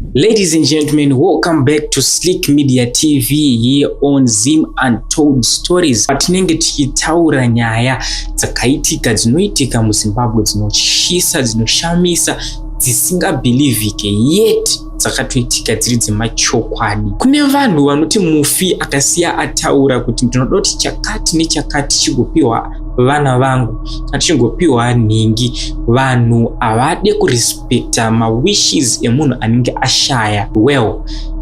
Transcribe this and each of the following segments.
Ladies and gentlemen, welcome back to Slick Media TV here on Zim Untold Stories. Patinenge tichitaura nyaya dzakaitika dzinoitika muZimbabwe dzinotyisa, dzinoshamisa, dzisingabhilivhike yet dzakatoitika dziri dzemachokwadi. Kune vanhu vanoti mufi akasiya ataura kuti ndinoda kuti chakati nechakati chigopiwa vana vangu kana chingopiwa nhingi. Vanhu havade kurespect but uh, mawishes emunhu anenge ashaya well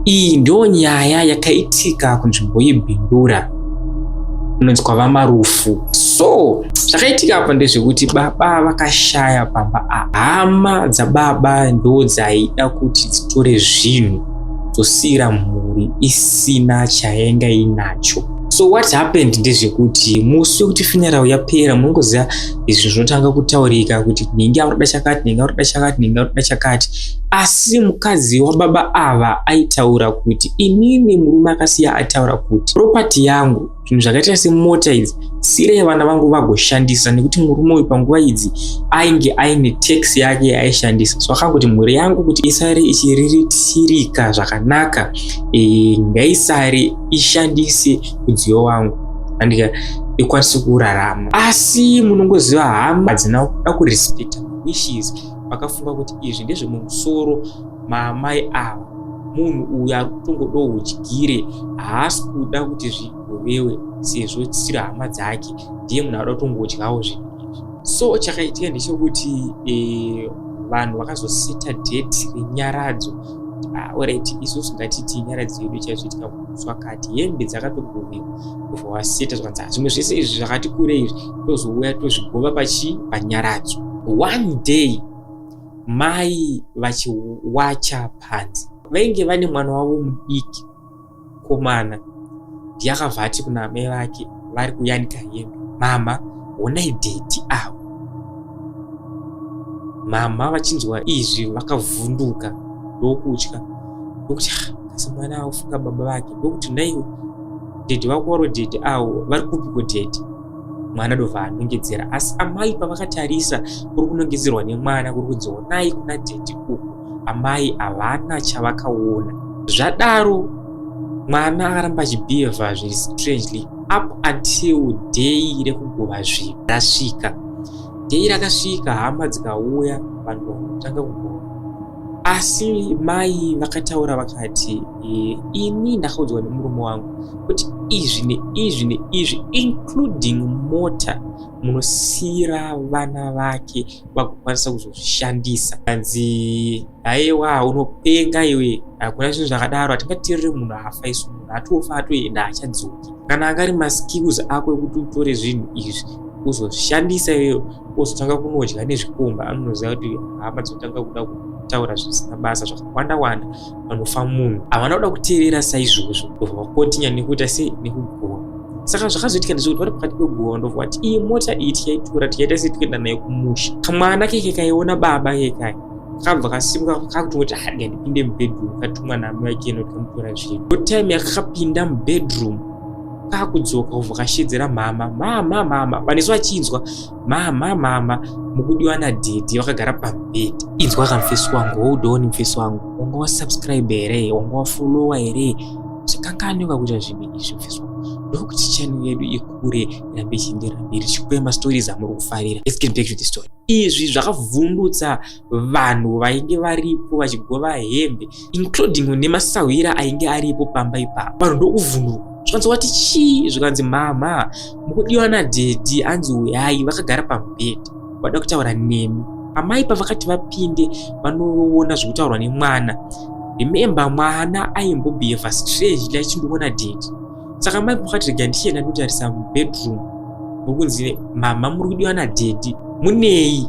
iyi ndiyo nyaya yakaitika kunzvimbo yebindura kunonzi kwava marufu so zvakaitika apa ndezvekuti baba vakashaya pamba hama dzababa ndo dzaida kuti dzitore zvinhu dzosiira mhuri isina chayenga inacho so what happened ndezvekuti musi wekuti finyarau yapera munongoziva izvi zvinotanga kutaurika kuti ndinge akutoda chakati ndinge akutoda chakati ndinge akutoda chakati asi mukadzi wababa ava aitaura kuti inini murume akasiya ataura kuti propati yangu zvinhu zvakaita semota idzi sirei vana vangu vagoshandisa nekuti murume uyu panguva idzi ainge aine tax yake yaaishandisa so akangoti mhuri yangu kuti isare ichiriritirika zvakanaka e, ngaisare ishandise mudziyo wangu andika ikwanisi kurarama asi munongoziva hama hadzina kuda kurespecta wishes vakafunga kuti izvi ndezvemumusoro maamai ava munhu uyu ari kutongodawo udyire haasi kuda kuti zvigovewe sezvo tisiri hama dzake ndiye munhu aada kutongodyawo zvinhu izvi so chakaitika ndechekuti e, vanhu vakazosita date renyaradzo ah, orit isusu ngatiti nyaradzo yedu chaizoitika zvakati hembe dzakatogovewa zvawaseta zvakanzi ah, zvimwe zvese izvi zvakati kure izvi tozouya tozvigova pachi panyaradzo one day mai vachiwacha panzi vainge vane mwana wavo mudiki komana ndiyakabva ati kuna amai vake vari kuyanika hembe mama honai dhedhi avo mama vachinzwa izvi vakavhunduka ndokutya ndokuti ah, kasi mwana aufunga baba vake ndokuti ndaiwe dhedhi vako waro dhedhi awo vari kupiko dhedhi mwana dova anongedzera asi amai pavakatarisa kuri kunongedzerwa nemwana kuri kudzionai kuna dhedhi uku amai havana chavakaona zvadaro mwana akaramba achibhiyevha zviri strangely up until day rekugova zvinhu rasvika day rakasvika hama dzikauya vanhu vakutanga kugova asi mai vakataura vakati e, ini ndakaudzwa nemurume wangu kuti izvi neizvi neizvi including mota munosiira vana vake vakukwanisa kuzozvishandisa anzi haiwa unopenga iwe hakuna zvinhu zvakadaro hatingatiriri munhu afa isu munhu atofa atoenda achadzoki kana angari maskills ako ekuti utore zvinhu izvi uzoshandisa iyoyo ozotanga kunodya nezvikomba anonoziva kuti hama dzotanga kuda kutaura zvisina basa zvakawanda wanda vanofa munhu havana kuda kuteerera saizvozvo ndobva vakontinya nekuita se nekugowa saka zvakazoitika ndezvekuti vari pakati pegowa ndobva vati iyi mota iyi tikaitora tikaita se tikuenda nayo kumusha kamwana keke kaiona baba kekaya kabva kasimuka kakutongoti hadi handipinde mubedroom katumwa naamai ake ino tikamutora zvinhu ko time yakakapinda mubedroom kakudzoka kubva kashedzera mama mama mama vanesu vachinzwa mama mama mukudiwa nadhedhi vakagara pabhedhi inzwa ka mfesi wangu woudoni mfesi wangu wanga wasubscribe here wanga wafollowa here zvikanganyoka kuita zvinhu izvi mfesi wangu ndokuti channel yedu ikure irambe ichienderera mberi chikwema stories amuri kufarira let's get back to the story izvi zvakavhundutsa vanhu vainge varipo vachigova hembe including nemasahwira ainge aripo pamba ipapo vanhu ndokuvhunduka zvikanzi wati chii zvikanzi mhamha mukudiwa nadhedhi anzi uyai vakagara pamubhedhi vada kutaura nemi amai pavakati vapinde vanoona zvekutaurwa nemwana remember mwana aimbobheheva strangely achindiona dhedhi saka mai mukati rega ndichienda ndotarisa mubedroom mukunzi mama muri kudiwa nadhedhi munei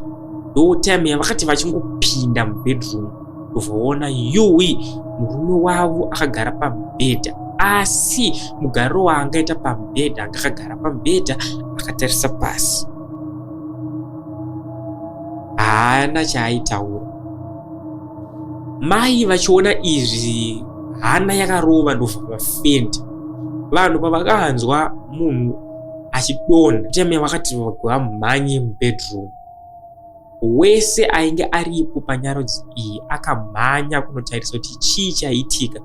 ndo time yavakati vachingopinda mubedroom ndovaona yuwi murume wavo akagara pamubhedha asi mugariro waangaita pamubhedha anga akagara pamubhedha akatarisa pasi haana chaaitaura Mai vachiona izvi hana yakarova ndobva vafendi. Vanhu pavakanzwa munhu achidonha teme vakati vamhanye mubedroom. Wese ainge aripo panyarodzi iyi akamhanya kunotarisa kuti chii chaiitika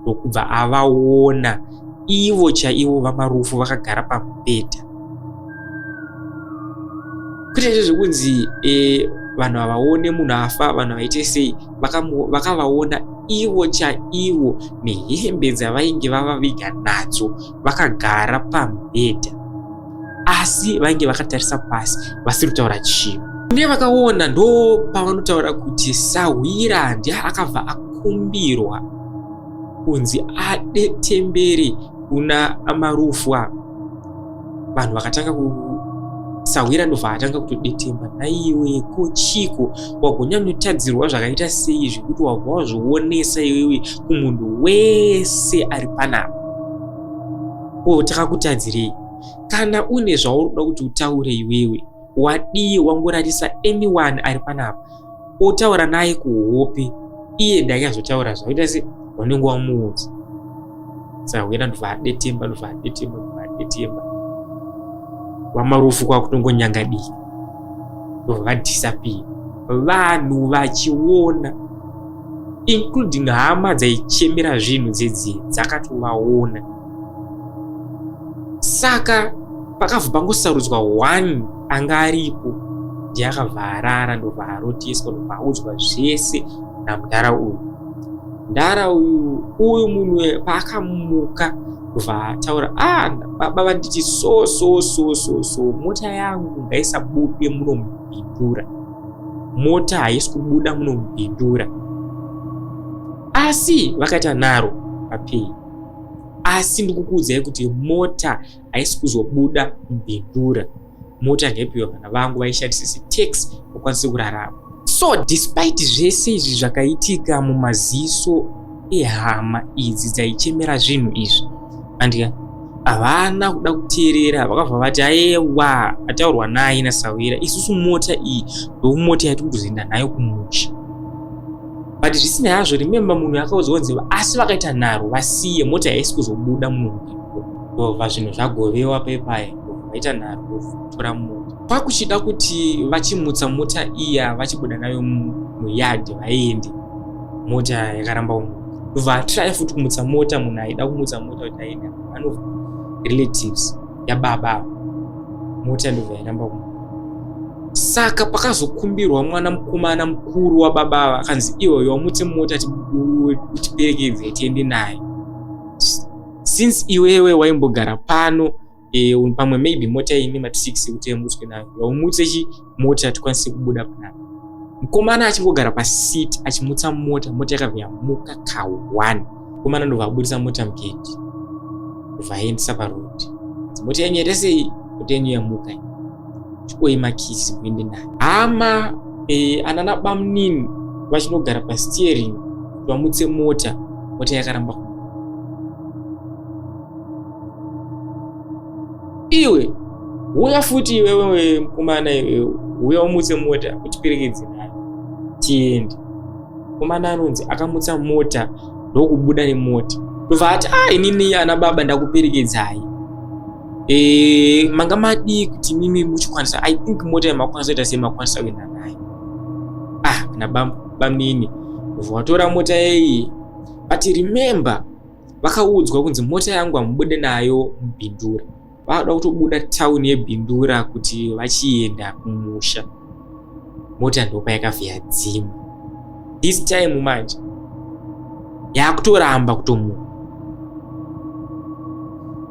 ndokubva avaona ivo chaivo vamarufu vakagara pamubhedha kwete izvo zvekunzi e, vanhu havaone munhu afa vanhu havaite sei vakavaona ivo chaivo nehembe dzavainge vavaviga nadzo vakagara pamubhedha asi vainge vakatarisa pasi vasiri kutaura chinhu ne vakaona ndo pavanotaura kuti sahwira ndi akabva akumbirwa kunzi ade temberi kuna amarufwa vanhu vakatanga ku sahwira ndobva atanga kutodetemba naiwe ko chiko wagonyanyotadzirwa zvakaita sei zvekuti wabva wazvionesa iwewe kumunhu wese ari panapa oh takakutadzirei kana une zvauri kuda kuti utaure iwewe wadii wangorarisa anyone ari panapa otaura naye kuhope iye ndaiazotaura zvaoita se wanenge wamuudza sahwena ndobva adetemba ndobva adetemba ndobva adetemba vamarufu kwakutongonyangadika ndobva vadhisapiya vanhu vachiona including hama dzaichemera zvinhu dzidzi dzakatovaona saka pakabva pangosarudzwa one anga aripo ndiye akabva arara ndobva arotiswa ndobva audzwa zvese namudhara uyu mudhara uyu uyu munhu paakamuka ndobva ataura ah baba vanditi so so so so so mota yangu ngaisabude munomhindura mota haisi kubuda munomupindura asi vakaita nharo vapei asi ndikukuudzai kuti mota haisi kuzobuda mubhindura mota ngaipiwa vana vangu vaishandisa setax vakwanise kurarama so despite zvese izvi zvakaitika mumaziso ihama idzi dzaichemera zvinhu izvi andika havana kuda kuteerera vakabva vati ayewa ataurwa naye nasawira isusu mota iyi ndomota yatiri kuzoenda nayo kumusha but zvisinei hazvo remembe munhu akaudzwa nziva asi vakaita nharo vasiye mota yaisi kuzobuda munhu ndova zvinhu zvagovewa pepaya vaita nharo votora mota kwakuchida kuti vachimutsa mota iya vachibuda nayo muyadhi vaende mota yakaramba umu ndobva atry futi kumutsa mota munhu aida kumutsa mota kuti aenda one of relatives yababa ava mota ndobva yaramba umu saka pakazokumbirwa mwana mukomana mukuru wababa ava akanzi iwoyo wamutse mota tiperekedze tiende naye since iwewe waimbogara pano e, pamwe maybe mota imi mati six kuti yamutswe nayo yaumutse chi mota tikwanise kubuda panapa mukomana achingogara pasiti achimutsa mota mota yakabva yamuka ka one mukomana ndobva abudisa mota mugedhi ndobva aendesa paroad mota yenyu yete sei mota yenyu yamuka chikoi makisi kuende nayo hama e, anana bamunini vachinogara pasteering vamutse mota mota yakaramba iwe huya futi iwewe mukomana iwewe huya umutse mota kuti pirikidzi nayo tiende mukomana anonzi akamutsa mota ndokubuda nemota ndobva ati a ah, inini ana baba ndakuperekedzai e, manga madii kuti mimi muchikwanisa i think mota yamakwanisa ita semakwanisa kuenda nayo ah na bamnini ndobva watora mota yeyi but remember vakaudzwa kunzi mota yangu hamubude nayo mubhindura vakuda kutobuda tauni yebhindura kuti vachienda kumusha mota ndopa yakavhiya dzima this time manje yakutoramba kutomuka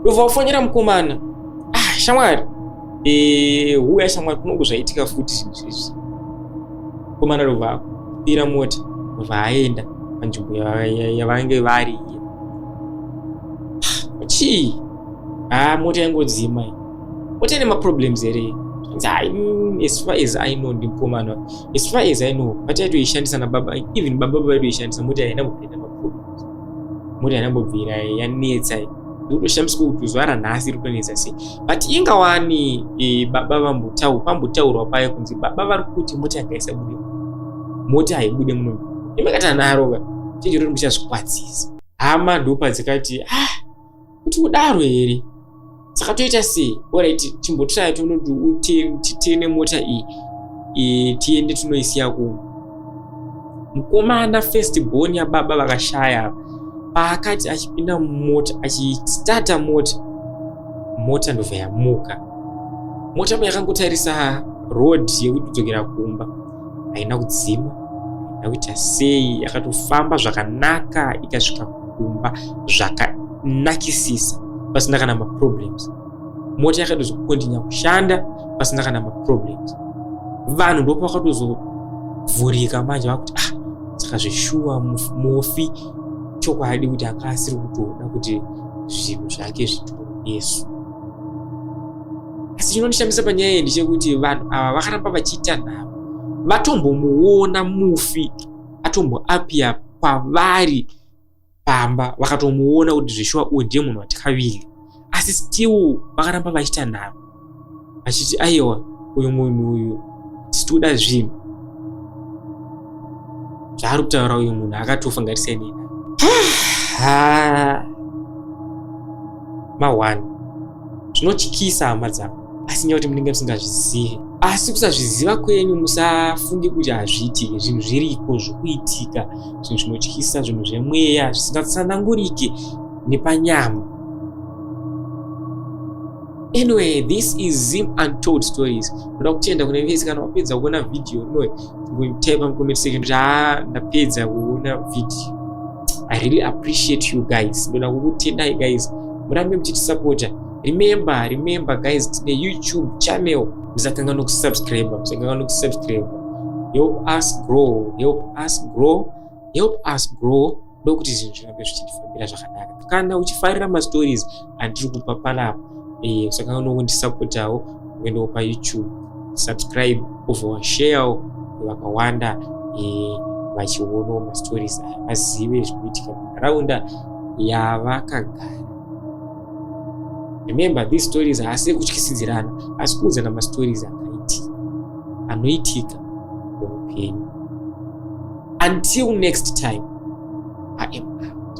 ndobva wafonera mukomana ah shamwari huya eh, shamwari kunongo zvaitika futi zvinhu zvizvi komana rova kupira mota vaaenda panzvimbo yavange vari iye chii haa ah, mota yangodzima mota ine maproblems here mm, as far as i know ndimukomana as far as i know pati yaitoishandisa nababa even baba baba yaitoishandisa mota yainambopinda maproblems mota yainambobvira yanetsa ndotoshamiswa kuti zuva ranhasi ritonetsa sei but inga wani e, baba vambotaura pambotaurwa paye kunzi baba vari kuti moti akaisa bude moti haibude muno imakata narova chinjiro ri muchazvikwadzisa hama ndopa dzikati ah kuti kudaro here saka toita sei orit chimbotiraya tonoti titene mota iyi e, tiende tinoisiya kuno mukomana first born yababa vakashaya paakati achipinda mumota achistarta mota mota ndobva yamuka mota ma yakangotarisa road yekuti kudzokera kumba haina kudzima haina kuita sei yakatofamba zvakanaka ikasvika kumba zvakanakisisa pasina kana maproblems mota yakatozokontinya kushanda pasina kana maproblems vanhu ndopo vakatozovhurika manje vakuti ah saka zveshuwa mufi chokwadi kuti anga asiri kutoda kuti zvinhu zvake zvitorwe yesu asi chinondishamisa panyaya iyi ndechekuti vanhu ava vakaramba vachiita nhamo vatombomuona mufi atomboapia kwavari pamba vakatomuona kuti zveshuwa uyu ndiye munhu watikavili asi still vakaramba vachiita nharo vachiti aiwa uyu munhu uyu titoda zvinhu zvaari kutaura uyu munhu akatofa ngatisainei mahwani zvinotyisa hama dzangu asi nyaya kuti munenge musingazvizive asi kusazviziva kwenyu musafunge kuti hazviitike zvinhu zviriko zvokuitika zvinhu zvinotyisa zvinhu zvemweya zvisingatsanangurike nepanyama anyway this is zim untold stories ndoda kutenda kune vese kana wapedza kuona vhidhiyo inoe ngoitaipa mucomment section kuti haa ndapedza kuona vhidhiyo i really appreciate you guys ndoda kukutendai guys murambe muchitisapota remember remember guys tine youtube channel musatanga nokusubscribe musatanga nokusubscribe help us grow help us grow help us grow ndokuti zvinhu zvirambe zvichitifambira zvakanaka kana uchifarira mastories andiri kupa panapa eh, saka unongondisapotawo uendewo payoutube subscribe over sharewo vakawanda eh, vachionawo mastories aya vazive zvinoitika munharaunda yavakagara remember these stories haasi ekutyisidzirana asi kuudzana mastories akaitika anoitika muupenyu until next time i am out